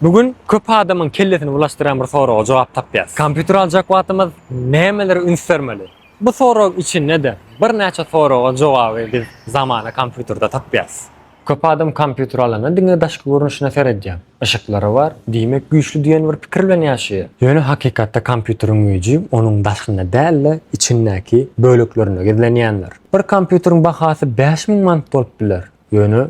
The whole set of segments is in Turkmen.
Bu gün köp adamyň kellesini bulaşdyran bir soraga jogap tapýarys. Kompýuter aljak wagtymyz nämelere üns bermeli? Bu sorag içinde-de birnäçe soraga jogaby biz zamana kompýuterde tapýarys. Köp adam kompýuter alanda diňe daşky görnüşine seredýär. Yşyklary bar, diýmek güýçli diýen bir pikir bilen ýaşaýar. Ýöne hakykatda kompýuteriň güýji onuň daşynda däl-de, içindäki böleklerinde gizlenýändir. Bir kompýuteriň bahasy bäş müň manat bolup biler, ýöne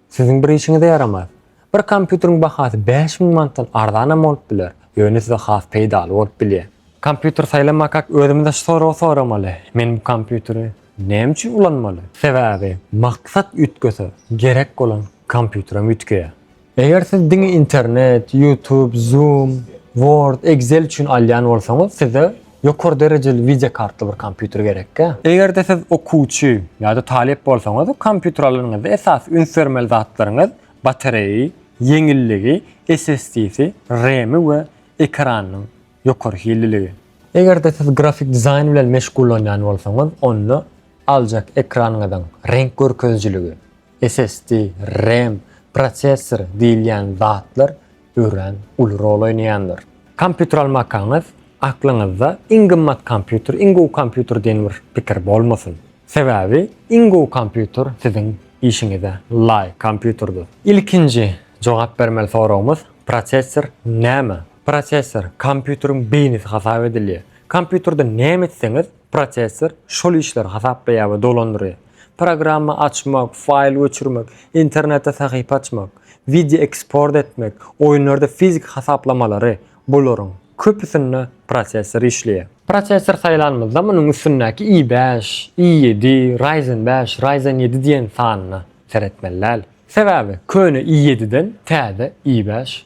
Siziň bir işiňize ýaramaz. Bir kompýuteriň bahasy bäş müň manatdan arzanam bolup biler, ýöne size has peýdaly bolup bilýär. Kompýuter saýlamakak özümize şu soragy soramaly, Men bu kompýuteri näme üçin ulanmaly? Sebäbi maksat üýtgese, gerek bolan kompýuterem üýtgeýär. Eger siz diňe internet, YouTube, Zoom, Word, Excel üçin alýan bolsaňyz, size Ýokary derejeli wideo kartly bir kompýuter gerekkä? Eger-de siz okuwçy ýa-da talyp bolsaňyz, kompýuter alanyňyzda esasy üns bermeli zatlaryňyz batareýi, ýeňilligi, SSD-si, RAM-i we ekranynyň ýokary hilliligi. Eger-de siz grafik dizaýn bilen meşgullanýan bolsaňyz, onda aljak ekranyňyzyň reňk görkezijiligi, SSD, RAM, prosessor diýilýän zatlar örän uly rol oýnaýandyr. Kompýuter almakaňyz aklyňyzda iň gymmat kompýuter, iň gowy kompýuter diýen bir pikir bolmasyn. Sebäbi iň gowy kompýuter siziň işiňize laýyk kompýuterdir. Ilkinji jogap bermeli soragymyz prosessor näme? Prosessor kompýuteriň beýnisi hasap edilýär. Kompýuterde näme etseňiz, Prosessor şol işleri hasaplaýar we dolandyrýar. Programma açmak, faýl göçürmek, internetde sahypa açmak, wideo eksport etmek, oýunlarda fiziki hasaplamalary, bularyň köpüsinde prosessor işleýär. Prosessor saýlanymyzda munuň üstündäki i bäş, i ýedi, Ryzen bäş, Ryzen ýedi diýen sanyna seretmeli däl. Sebäbi köne i ýediden täze i bäş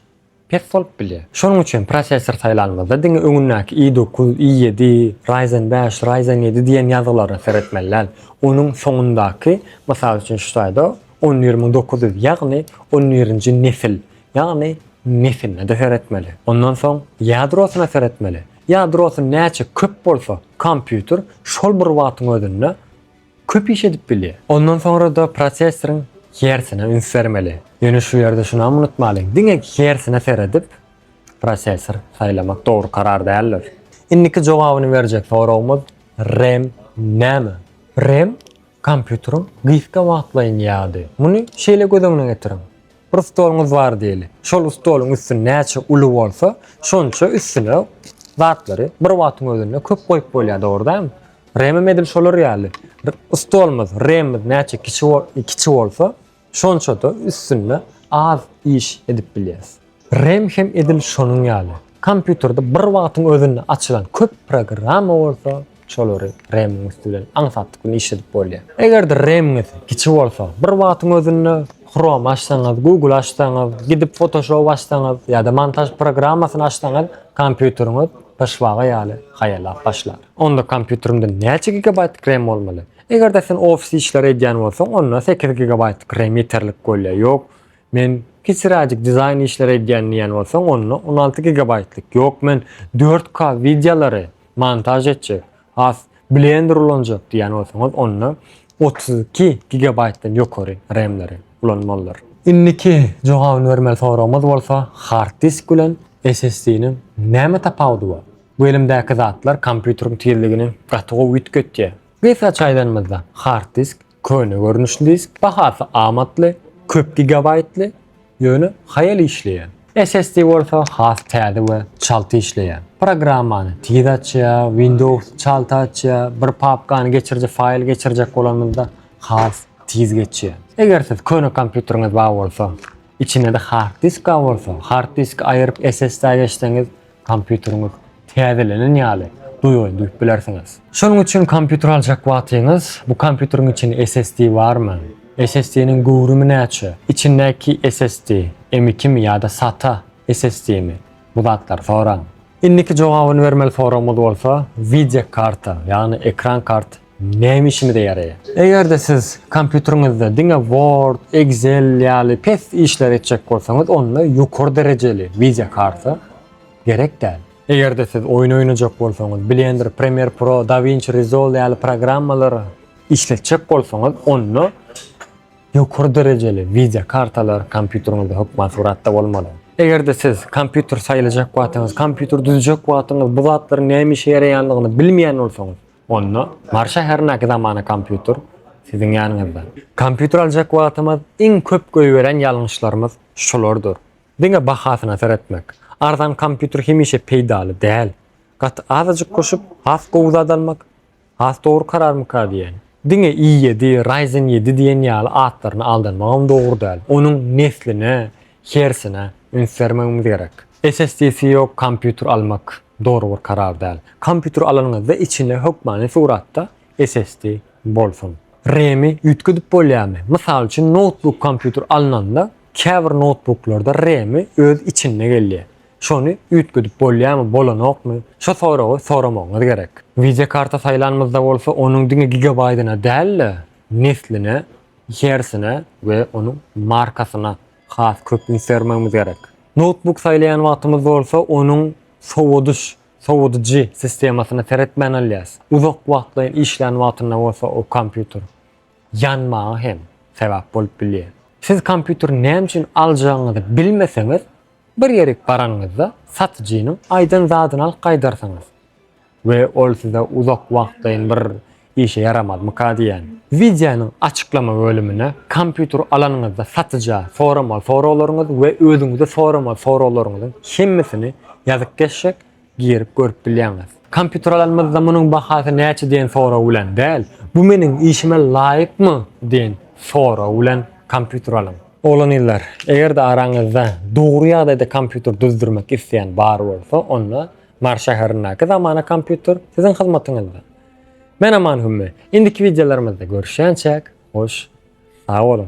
pes bolup bilýär. Şonuň üçin prosessor saýlanymyzda diňe öňündäki i dokuz, i ýedi, Ryzen bäş, Ryzen ýedi diýen ýazgylara seretmeli däl. Onuň soňundaky, mysal üçin şu taýda on bir müň dokuz ýüz, ýagny on birinji nesil, ýagny nesiline-de seretmeli. Ondan soň ýadrosyna seretmeli. Ýadrosy näçe köp bolsa, kompýuter şol bir wagtyň özünde köp iş edip bilýär. Ondan soňra-da prosessoryň hersine üns bermeli. Ýöne şu ýerde şunam unutmalyň, diňe hersine seredip, prosessor saýlamak dogry karar däldir. Indiki jogabyny berjek soragymyz RAM näme? RAM kompýuteriň gysga wagtlaýyn ýady. Muny şeýle göz öňüne getiriň. Bir stoluňyz bar diýeli. Şol stoluň üsti näçe uly bolsa, şonça üstüne zatlary bir wagtyň özünde köp goýup bolýar, dogry dälmi? Remem edil şolar ýaly. Stolumyz, remimiz näçe kiçi bolsa, şonça-da üstünde az iş edip bilýäris. Rem hem edil şonuň ýaly. Kompýuterde bir wagtyň özünde açylan köp programma bolsa, şolary RAM-iň üsti bilen aňsatlyk bilen işledip bolýar. Eger-de RAM-iňiz kiçi bolsa, bir wagtyň özünde Chrome açsaňyz, Google açsaňyz, gidip Photoshop açsaňyz ýa-da montaž programmasyny açsaňyz, kompýuteriňiz pyşbaga ýaly haýallap başlar. Onda kompýuterimde näçe gigabaýtlyk RAM bolmaly? Eger-de sen ofis işleri edýän bolsaň, onda sekiz gigabaýtlyk RAM ýeterlik bolýar. Ýok, Men kiçiräjik dizaýn işleri edýän diýýän bolsaň onda on alty gigabaýtlyk ýok men dört k wideolary montaž etjek has blender ulanjak diýýän bolsaňyz onda otuz iki gigabaýtdan ýokary remleri ulanmalydyr. Indiki jogabyny bermeli soragymyz bolsa hard disk bilen SSD-niň näme tapawudy bar? Bu elimdäki zatlar kompýuteriň tizligini gaty gowy üýtgetýär. Gysgaça aýdanymyzda hard disk Köne görnüşli disk, bahasy amatly, köp gigabaýtly, ýöne haýal işleýän. SSD bolsa has täze we çalt işleýär. Programmany tiz açýar, Windows-y çalt açýar, bir papkany geçiriji faýl geçirjek bolanymyzda has tiz geçýär. Eger siz köne kompýuteriňiz bar bolsa, içinde-de hard disk bar bolsa, hard diski aýyryp SSD-a geçseňiz, Kompýuteriňiz täzelenen ýaly duýaýyn duýup bilersiňiz. Şonuň üçin kompýuter aljak wagtyňyz bu kompýuteriň içinde SSD barmy? SSD-niň göwrümi näçe? Içindäki SSD M2-mi ýa-da SATA SSD-mi? Bu zatlary soraň. Indiki jogabyny bermeli soragymyz bolsa, wideokarta, ýagny ekran karty Näme işimize ýaraýar? Eger-de siz kompýuteriňizde diňe Word, Excel ýaly pes işleri etjek bolsaňyz, onda ýokary derejeli wideokarta gerek däl. Eger-de siz oýun oýnajak bolsaňyz, Blender, Premiere Pro, DaVinci Resolve ýaly programmalary işletjek bolsaňyz, onda ýokary derejeli wideokartalar kompýuteriňizde hökman suratda bolmaly. Eger-de siz kompýuter saýlajak wagtyňyz, kompýuter düzjek wagtyňyz bu zatlaryň näme işe ýaraýandygyny bilmeýän bolsaňyz, Onda Mary şäherindäki zamana kompýuter siziň ýanyňyzda. Kompýuter aljak wagtymyz iň köp goýberen ýalňyşlarymyz şulardyr. Diňe bahasyna seretmek. Arzan kompýuter hemişe peýdaly däl. Gaty azajyk goşup has gowy zat almak has dogry kararmyka diýýän. Diňe i ýedi, Ryzen ýedi diýen ýaly atlaryna aldanmagam dogry däl. Onuň nesline, Hersine üns bermegimiz gerek. SSDsi ýok kompýuter almak dogry bir karar däl. Kompýuter alanyňyzda içinde hökmany suratda SSD bolsun. Remi üýtgedip bolýarmy? Mysal üçin noutbuk kompýuter alnanda käbir noutbuklarda remi öz içinde gelýär. Şony üýtgedip bolýarmy bolanokmy şo soragy soramagyňyz gerek. Wideokarta saýlanymyzda bolsa onuň diňe gigabaýdyna däl-de nesline içerisine we onuň markasyna has köp üns bermegimiz gerek. Noutbuk saýlaýan wagtymyz bolsa onuň sowadyş, sowadyjy, sistemasyna seretmän alýas. Uzak wagtlaýyn işlän wagtynda bolsa o kompýuter ýanmaga hem sebäp bolup bilýär. Siz kompýuteri näme üçin aljagyňyzy bilmeseňiz, bir ýerik baranyňyzda satyjynyň aýdan zadyny alyp gaýdarsyňyz. We ol size uzak wagtlaýyn bir işe ýaramazmyka diýýän. Wideonyň açyklama bölümine kompýuter alanyňyzda satyja soramaly soraglaryňyz we özüňize soramaly soraglaryňyzyň hemmesini ýazyp geçjek, girip görüp bilýäňiz. Kompýuter alanymyzda munuň bahasy näçe diýen sorag bilen däl, bu meniň işime laýykmy diýen sorag bilen kompýuter alyň. Oglan-gyzlar, eger-de araňyzda dogry ýagdaýda kompýuter düzdürmek isleýän bar bolsa, onda Mars şäherindäki zamana kompýuter siziň hyzmatyňyzda. Men Aman Hümmi. Indiki wideolarymyzda görüşýänçäk, hoş sag boluň!